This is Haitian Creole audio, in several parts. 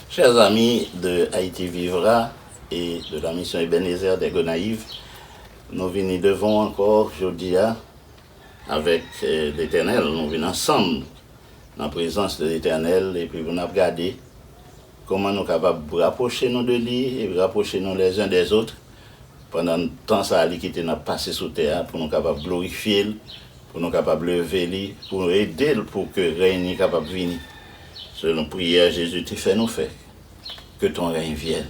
Chers amis de Haïti Vivra et de la Mission Ebenezer des Gonaïves, nou vini devan w ankò jodi a avèk Letènèl, nou vin ansanm nan prezans de Letènèl epi pou n ap gade Kòman nou kapab rapwoche nou de li e rapwoche nou lèzen dèzot pandan tan sa a li kite n ap pase sou tè a pou nou kapab glorifye l, pou nou kapab leve li, pou nou ede l pou ke rèy ni kapab vini? Selon priyè Jezi te fè nou fè, Ke ton règne vienne.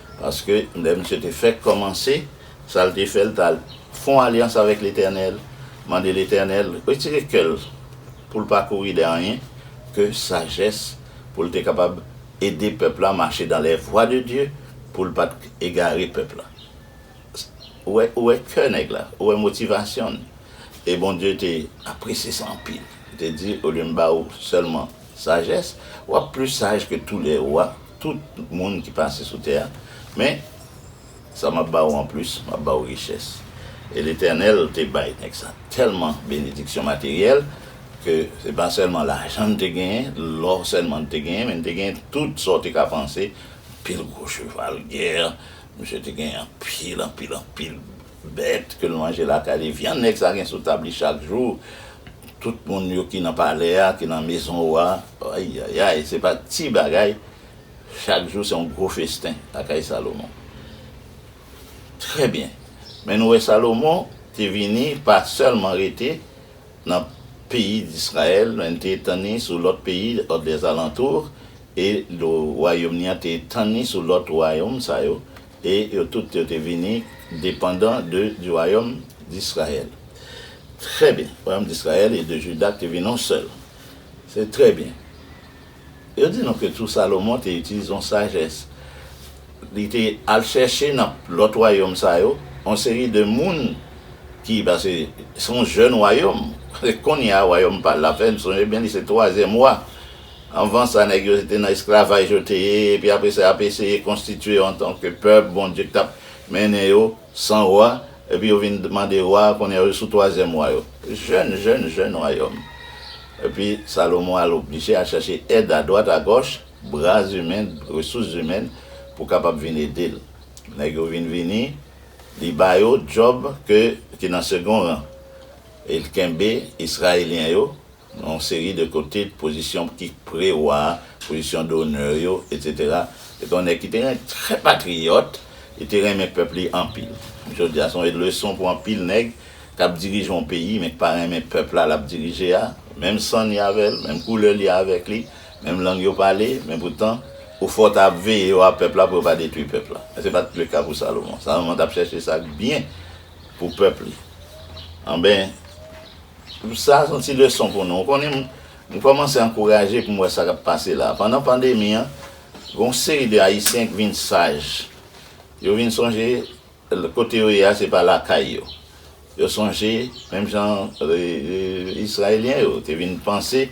Paske, lè misye te fèk kòmanse, sa l te fè, l t al fè yon alyans avèk Letènèl, mande Letènèl retire kè l pou l pa kouri dèyè anyen ke sajès, pou l te kapab ede pèp la mache dans les voies de Dieu, pou l pa t egare pèp la. Ou wè, ou wè kè nèg la, ou wè motivasyon l. E Bondye te apresye sa anpil. Li te di, olye m ba ou sèlman sajès, w ap plis saj ke tou lè wa. tout moun ki pase sou tè a, men, sa m ap ba ou anplis, m ap ba ou richès. E Letènèl te bay nèg sa tèlman benediksyon materyèl ke se pa sèlman lajan l te genyen, lò sèlman l te genyen, men l te genyen tout sa w te ka panse, anpil gwo cheval gè, misye te genyen anpil, anpil, anpil. Bèt ke l manje lakay li, vyann nèg sa gen sou tab li chak jou, tout moun yo ki nan palè a, ki nan mezon wa, ayayay, se pa ti bagay, chak jou se yon gwo festen lakay Salomon. Trè byen, men nou wè Salomon te vini pa sèlman rete nan peyi Disrayèl, men li te etann li sou lòt peyi dèzalantou, e wayom li an te etann li sou lòt wayom sa yo, E yo tout yo te vini depandan de di wayòm d'Israyèl. Trè byen. Wayòm d'Israyèl e de Juda te vin on sèl. Se trè byen. Yo di nou ke tou Salomon te itilize on sajès. Li te al chèche nan lòt wayòm sa yo on seri de moun ki, paske se on jèn wayòm. Kounye a wayòm pa l la fè, n sonje byen li se twazyèm wa. Anvan sa, nèg yo se te nan esklavaj yo te ye, epi apre sa y ap eseye konstitye yo antanke pèp, Bondye ki t ap mennen yo san wa, epi yo vin mande wa, kounye a yo sou twazyèm wa yo. Jèn, jèn, jèn wayòm. Epi Salomon al oblije al chache èd adwat agòch, bra imen, resous zimèn pou kapab vin ede l. Nèg yo vin vini, li ba yo djòb ke ki nan segon ran, e l kenbe Israelyen yo Nan yon seri de kote, pozisyon ki pre-wa, pozisyon d'honneur yo, etc. Se te yon nèg ki te ren, trè patriyòt, li te renmen pèp li anpil. Jodi a, se yon leson pou anpil nèg k ap dirije yon peyi men ki pa renmen pèp la l ap dirije a, menm san li avè l, menm koulè li avèk li, menm lang yo pale, men poutan, ou fè w ta ap veye yo a pèp la pou yo pa detwi pèp la. Men se pa t le ka pou Salomon. Salomon t ap chèche sa k byen pou pèp li. Anben! Pou sa son ti leson pou nou. Ou konnen m kòmanse ankouraje pou m wè sa k ap pase la. Pandan pandemi an, gen yon seri de Ayisyen ki vin saj. Yo vin sonje kote yo ye a se pa lakay yo. Yo sonje menm jan Izrayelyen yo te vin panse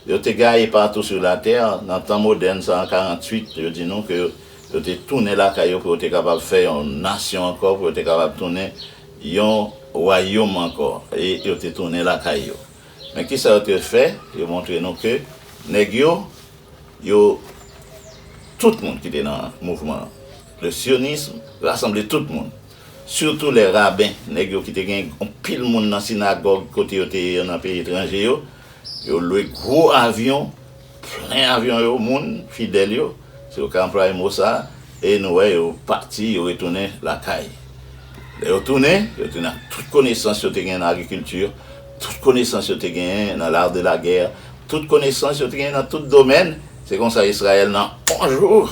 yo te gaye patou sou latè nan tan modèn sa an 48, yo di nou ke yo te tounen lakay yo pou yo te kapab fè yon nasyon ankò, pou yo te kapab tounen Yon wayom ankò, e yo te tounen lakay yo. Men ki sa yo te fè, yo montre nou ke nèg yo, yo, tout moun ki te nan mouvman an, le sionisme rasanble tout moun, sitou lè raben, nèg yo ki te gen anpil moun nan sinagòg kote yo te ye yo nan peyi etranje yo, yo lwe gwo avyon Plen avyon yo moun fidèl yo, si yo ka anplwaye mo sa a, e nou wè yo pati, yo retounen lakay. Lè yo tounen, yo tounen ak tout konesans yo te genyen nan agrikilti, tout konesans yo te genyen nan lar de la gè, tout konesans yo te genyen nan tout domèn. Se kon sa Izrayèl nan on jou,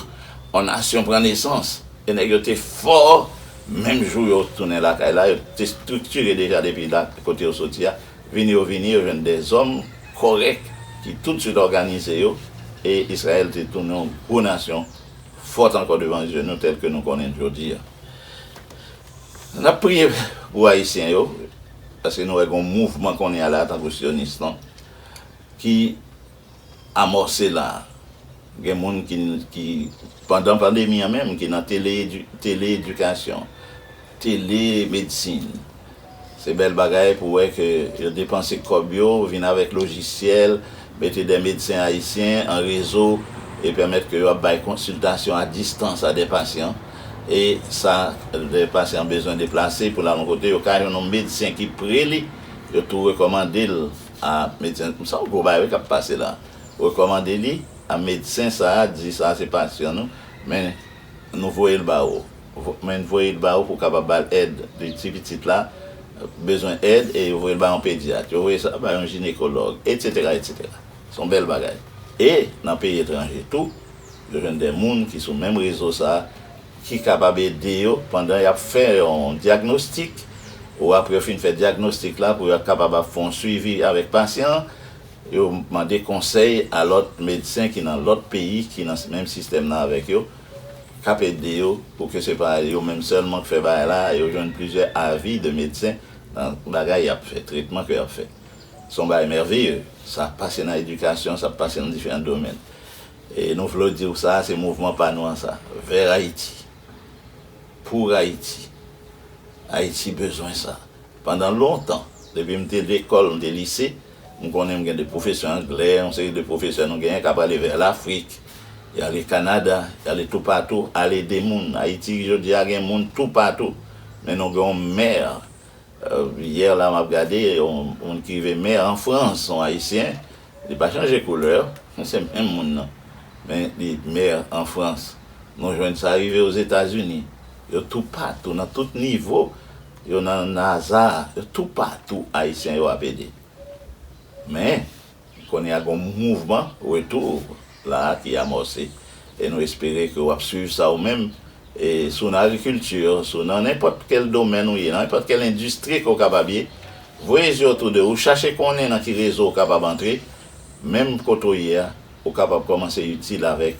on nasyon pran nesans. E nèg yo te fò, menm jou yo tounen lakay la, yo te estriktire deja depi la kote yo soti a. Vini yo vini, yo jwenn de zòm kòrèk ki toutswit òganize yo, e Izrayèl te tounen yon gwo nasyon, fòt ankò devan zye nou, tèlke nou konnen l jodi a. N ap priye pou Ayisyen yo, paske nou wè gen yon mouvman kounye a la, tankou Syonis lan, ki. amòse la a. Gen moun ki ki pandan pandemi an menm ki nan tele tele edikasyon, tele medsin. Se bèl bagay pou wè ke yo depanse kòb yo, vin avèk lojisyèl, mete dè medsen ayisyen an rezo e pèmèt ke yo ap bay konsiltasyon a distans a dè pasyan. E sa dè pasyan bezwen deplase pou l al yon kote yo ka jwenn yon medsen ki pre li, yo tou rekòmande l. A medsen m son gwo bagay wi kap pase la rekòmande li a medsen sa di sa se pasyan nou men nou voye l ba ou men n voye l ba ou pou w kapab ba l èd li di pitit la bezwen èd e yo voye l ba yon pedyat yo voye sa ba yon jinekològ etsetera etsetera son bèl bagay e nan peyi etranje tou yo jwenn de moun ki sou menm rezo sa. ki kapab ede yo pandan y ap fè yon dyagnostik ou apre yo fin fè dyagnostik la pou yo kapab ap fè yon suivi avèk pasyan an, yo mande konsèy a lòt medsen ki nan lòt peyi ki nan menm sistèm nan avèk yo, k ap ede yo pou ke se pa yo menm sèlman k fè bagay la, yo jwenn plizyè avi de medsen nan bagay y ap fè, tretman ke y ap fè. Se yon bagay mèveye, sa pase nan edikasyon, sa pase nan diferan domèn. E nou vle w di w sa a se mouvman pa nou an sa. Vè Ayiti. Pou Ayiti. Ayiti bezwen sa. Pandan lontan, depi m te lekòl, m te lise, m konnen m gen de pwofesè anglè, yon seri de pwofesè nou genyen k ap ale vè Lafrik, y ale Kanada, y ale toupatou al ede moun. Ayiti jodi a gen moun toupatou. Men nou gen yon mè, yè la m ap gade, yon moun ki rive mè an Frans, yon Ayisyen. Li pa chanje koulè, se menm moun nan. Men li maire an Frans. Nou jwenn sa rive Ozetazini. Yo toupatou, nan tout nivo. Yo nan NASA, yo toupatou Ayisyen yo ap ede. Men, kounye a gen yon mouvman retour. la a ki amòse e nou espere ke w ap swiv sa ou menm e si w nan agrikilti, si w nan nenpòt kèl domèn ou ye, nan nenpòt kèl endistri ke w kapab ye, voye zye otou de ou, chache konnen nan ki rezo ou kapab antre, menm kote ou ye a, ou kapab kòmanse itil avèk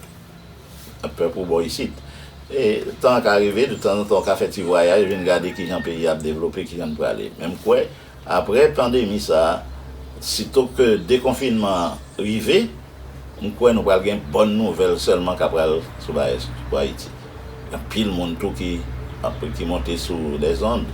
pèp ou bò isit. E tan an ka rive, detanzantan ou ka fè ti vwayaj vin gade kijan peyi a ap devlope, kijan li prale. Men m kwè. Aprè pandemi sa, sitou ke dekonfinman an rive, m kwè nou pral gen bòn nouvèl sèlman ka pral sou Baes pou Ayiti. Gen anpil moun tou ki ap ki monte sou lèzond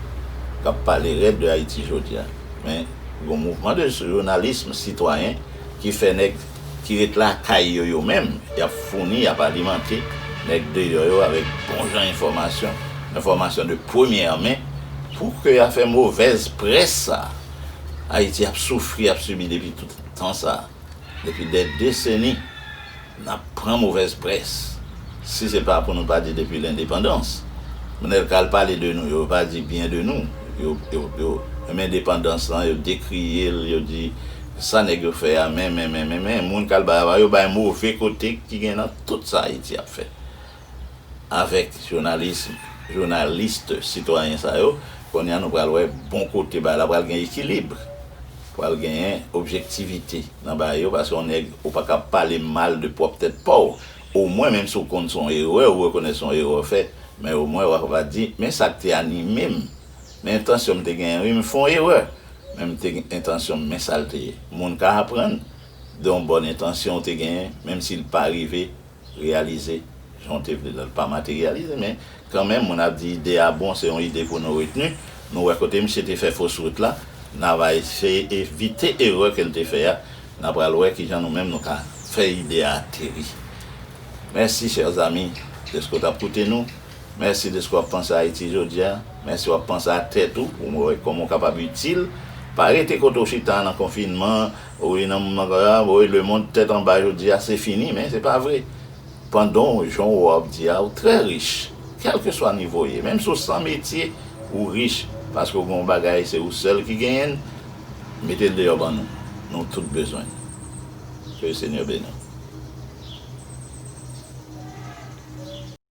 k ap pale rèd de Ayiti jodi a. Men, gen yon mouvman de jounalism sitwayen ki fè nèg. ki ret lakay yo yo menm, y ap founi, y ap alimante nèg deyò yo avèk bon jan enfòmasyon, enfòmasyon de premyè men, pou ke y a fè movèz près sa a. Ayiti ap soufri, ap sibi depi tout tan sa a, depi dè deseni, n ap pran movèz près. Si se pa pou nou pa di depi lendepandans. Moun el ka al pale de nou, yo pa di byen de nou. Yo, yo, yo renmen depandans lan, yo dekriye l, yo di Sa nèg yo fè a men men men men men moun kalbay ava yo bay move kote ki gen nan tout sa Ayiti ap fè avèk jounalism jounaliste sitwayen sa yo kounye a nou pral wè bon kote bagay la pral gen ekilib pral genyen objektivite nan bagay yo paske yon nèg ou pa kab pale mal de pwòp tèt pa w omwen menm si w konn se yon erè ou rekonèt se yon erè w fè men omwen w ava di men sa k te anime m. Men entansyon m te genyen wi, m fè yon erè men m te gen entansyon men sa l te ye. Moun ka aprann de yon bòn entansyon ou te genyen menm si l pa rive reyalize jan w te vle l, l pa materyalize men kanmenm moun ap di ide a bon se yon ide pou nou retni. Nou wè kote misye te fè fos wout la, n a va eseye evite erè ke l te fè a, n a pral wè kijan nou menm nou ka fè ide a ateri. Mèsi chers amis deske w t ap koute nou. Mèsi deske w ap panse a Ayiti jodi a. Mèsi w ap panse a tèt ou pou wè kòman w kapab itil. Pa rete kote w chita a nan konfinman, wi nan moman sa a, woy lemond tèt anba jodi a, se fini, men se pa vre. Pandan w, jan w ap di a, ou trè rich. Kèlkeswa nivo w ye, menm si w san metye, ou rich paske w gen yon bagay se ou sèl ki genyen l, mete l deyò ban nou. Nou tout bezwen l. Ke Senyè beni w.